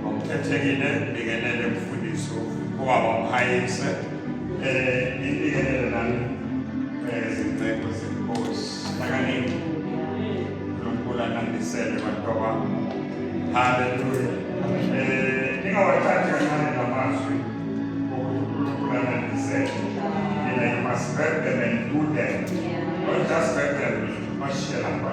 Ngokukhethekile ngikelele mfundisi ubaba umhayise um eh, ngikelele nami um eh, zincedo zenkosi akanini unkulunkulu anandisele bantu abami haleluya um eh, ningawathathi kancane namazwi okuthi unkulunkulu anandisele mina you must burden and do them not just burden bashiye lapha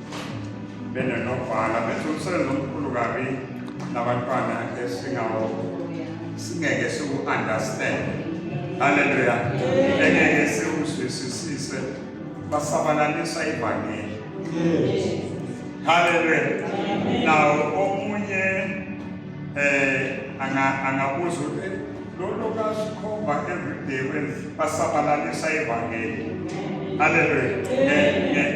benonobhala benza umsebenzi omkhulu kabi nabantwana esingawo singeke siwu-understand halleluya engeke siwuzwisisise basabalalisa ivangeli halleluya nawo omunye um angabuza ukuthi Lolo kasikhomba everyday when basabalalisa ivangeli. Hallelujah.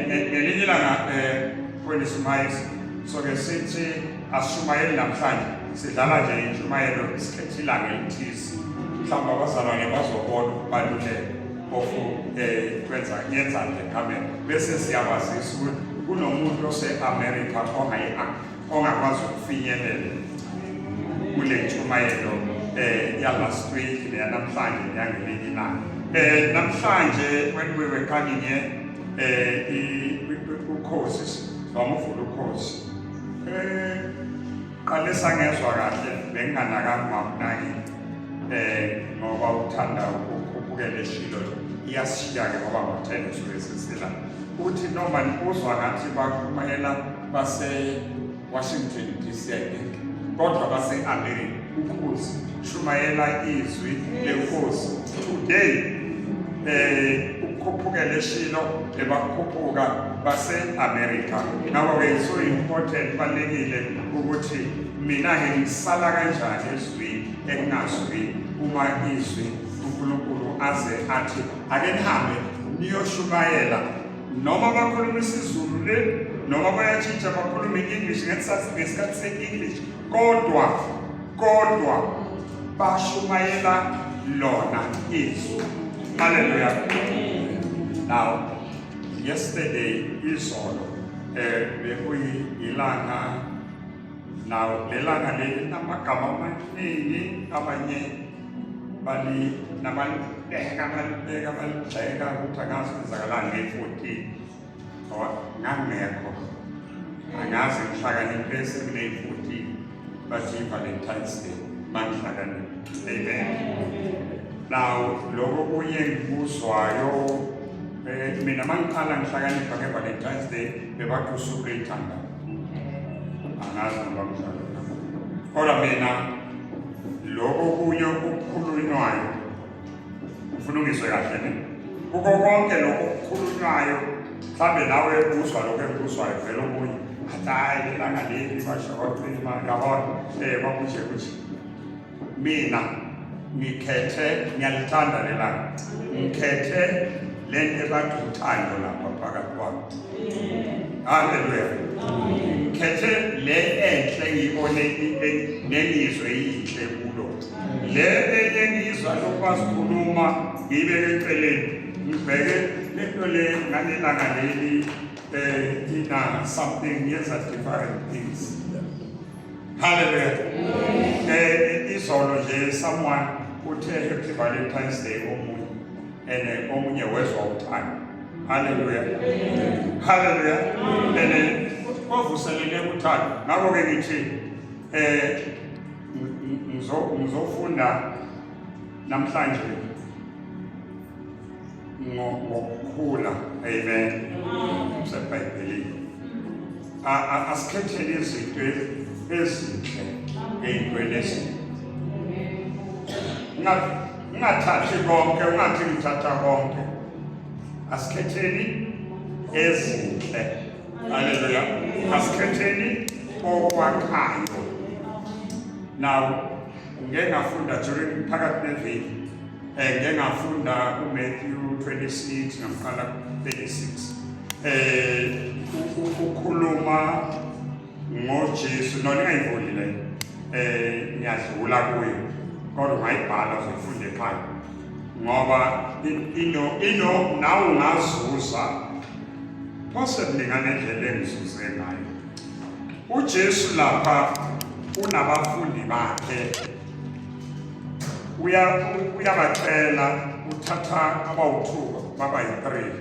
Ngelinye ilanga eh kweni simayisi so ke sithi ashumayeli namhlanje sidlala nje intshumayelo isikhethe ilanga elithize mhlawumbe abazalwa nge bazobona ukubaluleka kofu um eh, kwenza yenza nje kamera bese siyabazisa ukuthi kunomuntu ose-amerika ongayi-afrika ongakwazi ukufinyelela kule ntshumayelo eh yalast week neyanamhlanje neyangelinye ilanga eh namhlanje when we were coming here eh ukhosi wamuvula ukhosi eh qale sangezwa kahle benginganakanga mamnaki eh ngoba uthanda ukukhuphukela eshilo iyashiya ke ngoba ngothenga usuke sesila uthi noma nikuzwa ngathi bakumayela base-washington dc kodwa base-amerika ukhozi shumayela izwi lenkosi today um eh, ukukhuphukela eshilo ebakhuphuka base-amerika ngakho-ke so important kubalulekile ukuthi mina-ke ngisala kanjani ezwini ekunazwi uma izwi unkulunkulu aze athi ake nihambe niyoshumayela noma bakhuluma isiZulu le noma bayatshintsha bakhuluma i-English ngesikhathi se-English kodwa kodwa bashumayela lona izwi haleluya now yesterday izolo eh bekuyilanga now lelanga leli namagama amaningi abanye bali nabalibeka balibeka baligxeka ukuthi angazi kwenzakalani ngeyi-fourteen ngoba ngangekho angazi ngihlakaniphe esekuneyi-fourteen bathi i-valentine's day mangihlakaniphe amen now loko kunye ngikuzwayo eh, mina mangiqala ngihlakanipha nge-valentine's day bebathi usuku leyithanda angazi noba mdlalo kodwa mina Lokho kunye okukhulunywayo ufulungiswe kahle ne kuko konke lokho okukhulunywayo mhlawumbe nawe ekuzwa lokho ekuzwayo vele okunye athi hayi lelanga leli basho kodwa imali kabona um eh, kwakunje kunje mina ngikhethe ngiyalithanda lelanga ngikhethe lento ebathi uthando lapha phakathi kwakho haleluya ngikhethe le enhle ngiyibone nengizwe yinhle kulo le enye ngizwa lokwazi khuluma ngibe eceleni ngibheke lento le ngalelanga leli eh ina something yenza different things haleluya eh izolo nje someone uthe happy valentine's day omunye and omunye wezwa uthando haleluya haleluya and kwavuselele uthando ngakho ke ngithi eh ngizofunda namhlanje ngokukhula amen sebhayibhelini asikhethele izinto ezinhle ey'ntweni ezinhle Ungathathi konke, ungathi ngithatha konke. Asikhetheni ezinhle. Haleluya. Asikhetheni okwakhayo. Now, ngeke ngafunda during phakathi neviki. Eh ngeke ngafunda uMatthew 26 ngaqala 36. Eh ukhuluma ngojesu no ningayivuli le eh ngiyadlula kuyo kodwa ungayibhala uzoyifunda ekhaya ngoba ino ino nawe ungazuza phose kuningane ndlela engizuze ngayo ujesu lapha unabafundi bakhe uyabacela uthatha abawu-two baba yi-three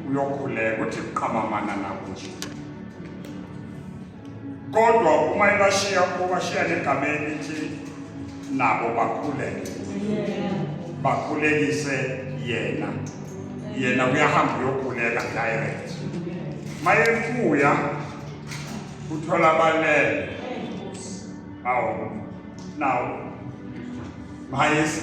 uyokhuleka uthi qhamamana nabo nje kodwa uma ebashiya ubashiya negameni ithi nabo bakhuleke bakhulekise yena yena uyahamba uyokhuleka direct mayebuya uthola abanele awu nawo mayesi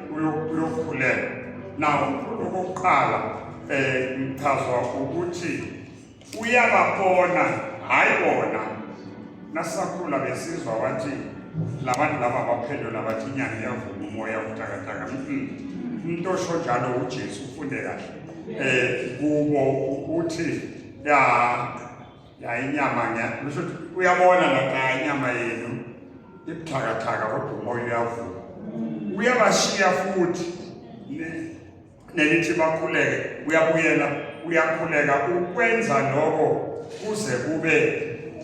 uyokhulelwa nawo mkhulu okokuqala um eh, ngichazwa ukuthi uyababona hhayi bona nasakhula besizwa wathi labantu laba baphendula bathi inyanga iyavuma umoya ubutakataka umuntu osho njalo ujesu ufunde kahle um kubo ukuthi ya ya inyama nya ngisho uyabona lapha inyama yenu ibuthakathaka kodwa umoya uyavuka uyabashiya futhi nelithi bakhuleke uyabuyela uyakhuleka ukwenza lokho kuze kube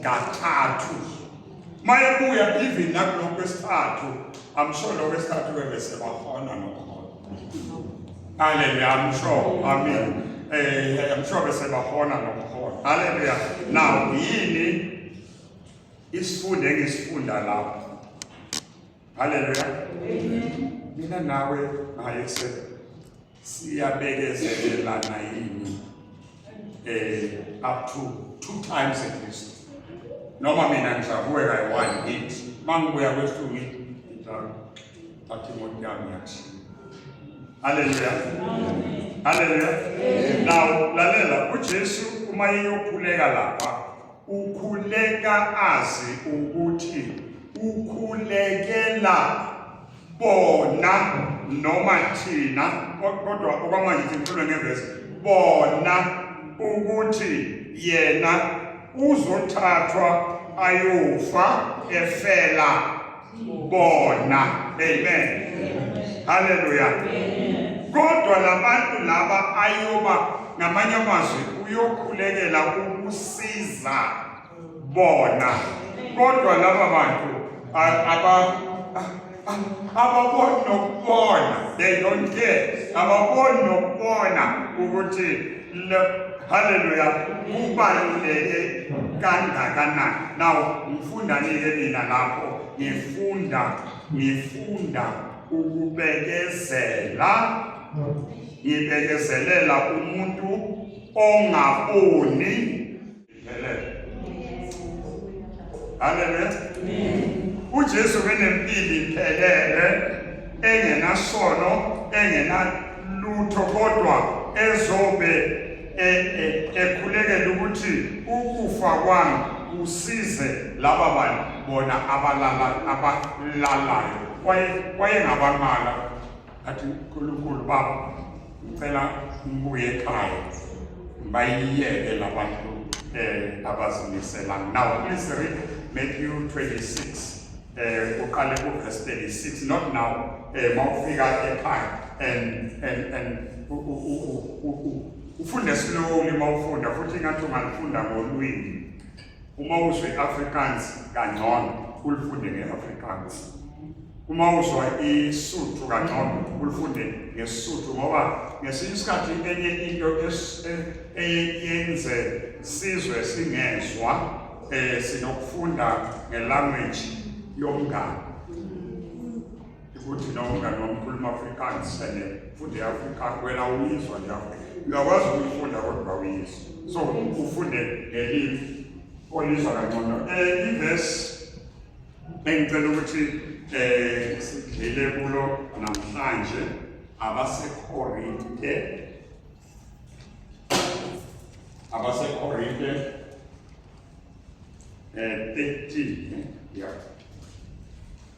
kathathu mayebuya even nakulokho kwesithathu amsho lokho kwesithathu bebese bahona nokho Hallelujah. I'm sure. I mean, eh, I'm sure besebahona nokuhona. Hallelujah. Now, yini isifundo engisifunda lapho? Hallelujah. Mina nawe naye se siyabekezelelana yini? Eh, up to two times at least. Noma mina ngisabuye kayi one hit. Mangibuya kwesinye Thatha imoto yami yakushiya. Haleluya. Haleluya. Now lalela uJesu uma eyokhuleka lapha ukhuleka azi ukuthi ukhulekela bona noma thina kodwa okwamanje sikhulwe ngevesi bona ukuthi yena uzothathwa ayofa efela bona amen haleluya kodwa labantu laba ayoba ngamanye amazwi uyokhulekela ukusiza bona kodwa laba bantu aba ababoni nokubona they don't care ababoni nokubona ukuthi Haleluya. Kubaluleke kangakanani. Now ngifunda nike mina lapho ngifunda ngifunda ukubekezela ngibekezelela umuntu ongaboni iphelele. Haleluya. UJesu benempilo iphelele engenasono engenalutho kodwa ezobe e, e, ekhulekela ukuthi ukufa kwami kusize laba bantu bona abalalayo kwaye kwayengabanqala athi nkulunkulu baba ngicela ngibuye ekhaya bayiyeke labantu um eh, abazimisela now please read matthew 26 eh uqale ku verse 36 not now eh mawufika ekhaya and and and ufunde slowly mawufunda futhi ngathi ungalifunda ngolwimi Uma uzwa i-Afrikaans kangcono ulifunde nge-Afrikaans. Uma uzwa iSuthu kangcono ulifunde ngeSuthu ngoba ngesinye isikhathi enye into eyenze sizwe singezwa eh sinokufunda ngelanguage yomngane Ukuthi na umngane wami ukhuluma Afrikaans and futhi Afrikaans wena uyizwa nje uyakwazi ukuyifunda kodwa uyizwa so ufunde ngelimu olizwa kangcono um ivesi engicela ukuthi um sidlile kulo namhlanje abasekorinte abasekorinte um 13 ya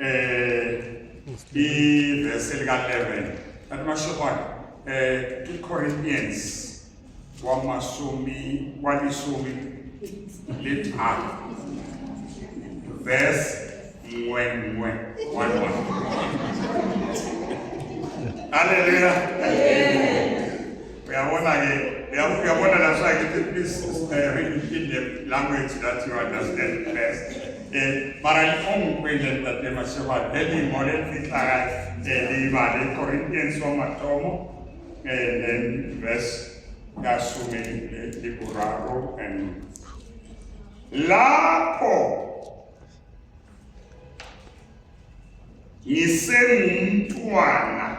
um ivesi lika-11 kanti mashokwana um eh, icorinthians wamasumi walisumi lithathu verse ngwe ngwe one one haleluya Uyabona ke, uyabona that's why it is reading in the language that you understand best. Eh, mara ongikwele ntate Masheba, leli ngole fihlaka eh libale Corinthians wa mathomo eh then verse yasumi liburaro and lapho ngisengumntwana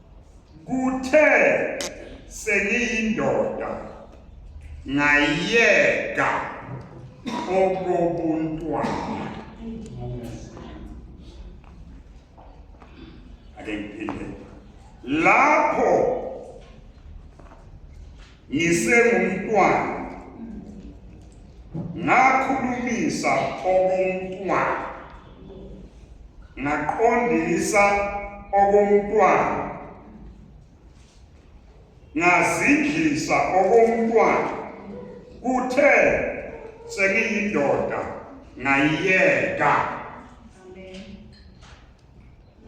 Kuthe sengiyindoda ngayeka okobuntwana. Ake ngiphinde. Lapho ngisengumntwana ngakhulumisa okomntwana ngaqondisa okomntwana ngazidlisa okomntwana kuthe sengiyindoda ngayiyeka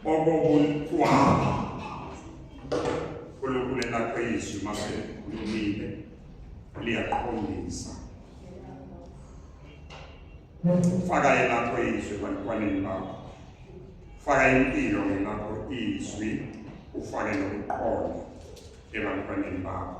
okokuyikwaba uNkulunkulu elakhe izwi mase likhulumile liyaqondisa faka elakho izwi ebantwaneni bakho faka impilo ngelakho izwi ufake nokuqonda ebantwaneni bakho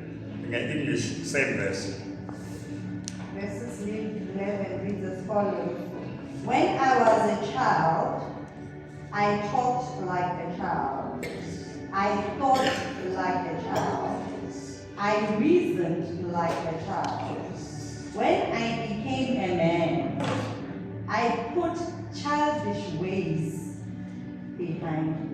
Nge-English, same verse. Verses 11 reads as follows When I was a child, I talked like a child, I thought like a child, I reasoned like a child. When I became a man, I put childish ways behind me.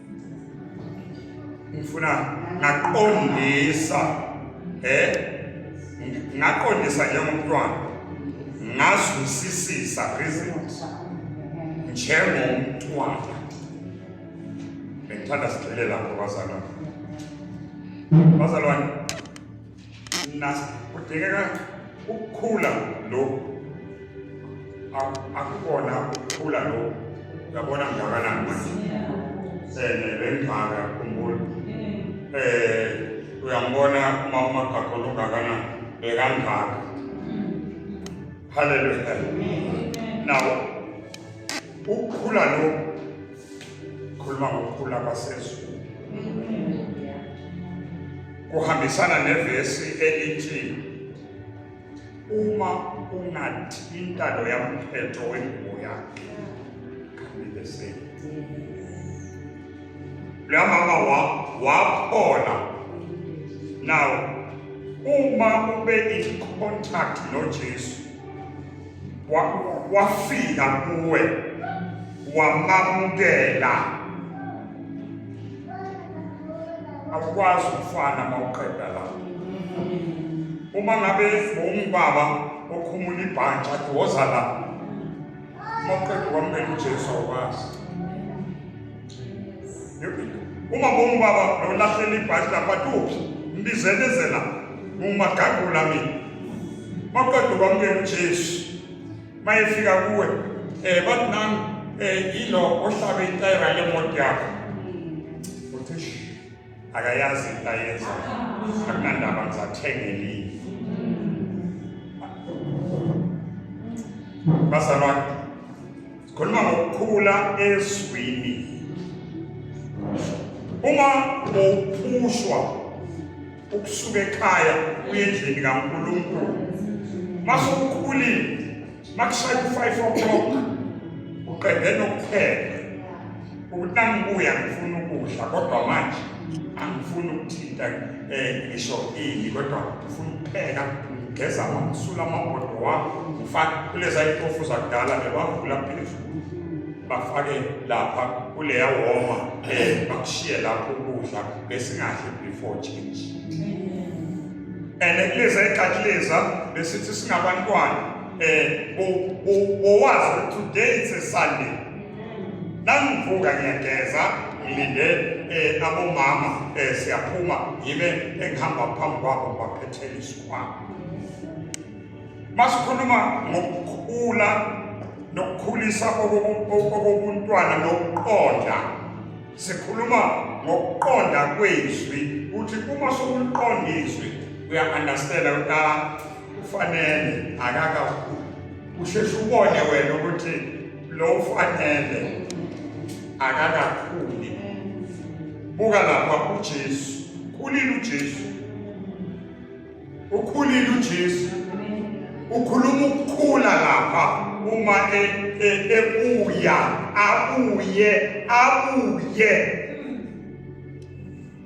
ngifuna ngaqondisa eh ngaqondisa njengomntwana ngazwisisisa reasons njengomntwana bengithanda sigxile lapho bazalwane bazalwane Nasi kudingeka ukukhula lokhu akukona ukukhula lokhu yabona ngakanani manje um lengaka khumbula um uyambona uma umagakhona ungakanani bekangaka haleluya nawo ukukhula lokhu Khuluma ngokukhula kwasezulu. Kuhambisana nevesi elithi uma ungathi intando yamphetho wengubo yakhe kanti same. Leya mama waphola. Now uma ube in contact noJesu wafika kuwe wamamukela akwazi ukufana mawuqeda la uma ngabe ungubaba okhumula ibhantsha athi woza la mawuqeda kwamukela ujesu awukwazi uma ngongubaba nolahlela ibhashi lapha tuphi mbizelezela ngumagagula mina maqeda ukwamukela ujesu uma efika kuwe um eh, bathi nami um eh, yilo ohlabe itayira lemoto yakho uthi akayazi into ayenza akunandaba ngizathengeliyo bazalwane Khuluma ngokukhula ezwini. Uma uphushwa ukusuka ekhaya uye endlini kaNkulunkulu. Mase ukhulile, makushaya u-5 o'clock uqede nokupheka. ukuthi nangibuya ngifuna ukudla kodwa manje angifuni ukuthinta um ngisho ini kodwa ngifuna ukupheka ngigeza ngamsula amabhodo wami ngifake kuleza itofu zakudala bebavula phezulu bafake lapha kuleya woma um bakushiye lapho ukudla besingadli before change and kuleza ekakuleza besithi singabantwana um bowazi today it's a sunday nangivuka ngiyageza ngilinde um abomama um siyaphuma yibe engihamba phambi kwabo ngibaphethele isikhwama masikhuluma ngokukhula nokukhulisa okobuntwana nokuqonda sikhuluma ngokuqonda kwezwi ukuthi uma sokuliqonda izwi uya-understanda ukuthi ah, kufanele akakakhulu usheshe ubone wena ukuthi lo ufanele akakakhuli buka lapha uJesu ukhulile uJesu ukhulile uJesu ukhuluma ukukhula lapha uma e, e, ebuya abuye abuye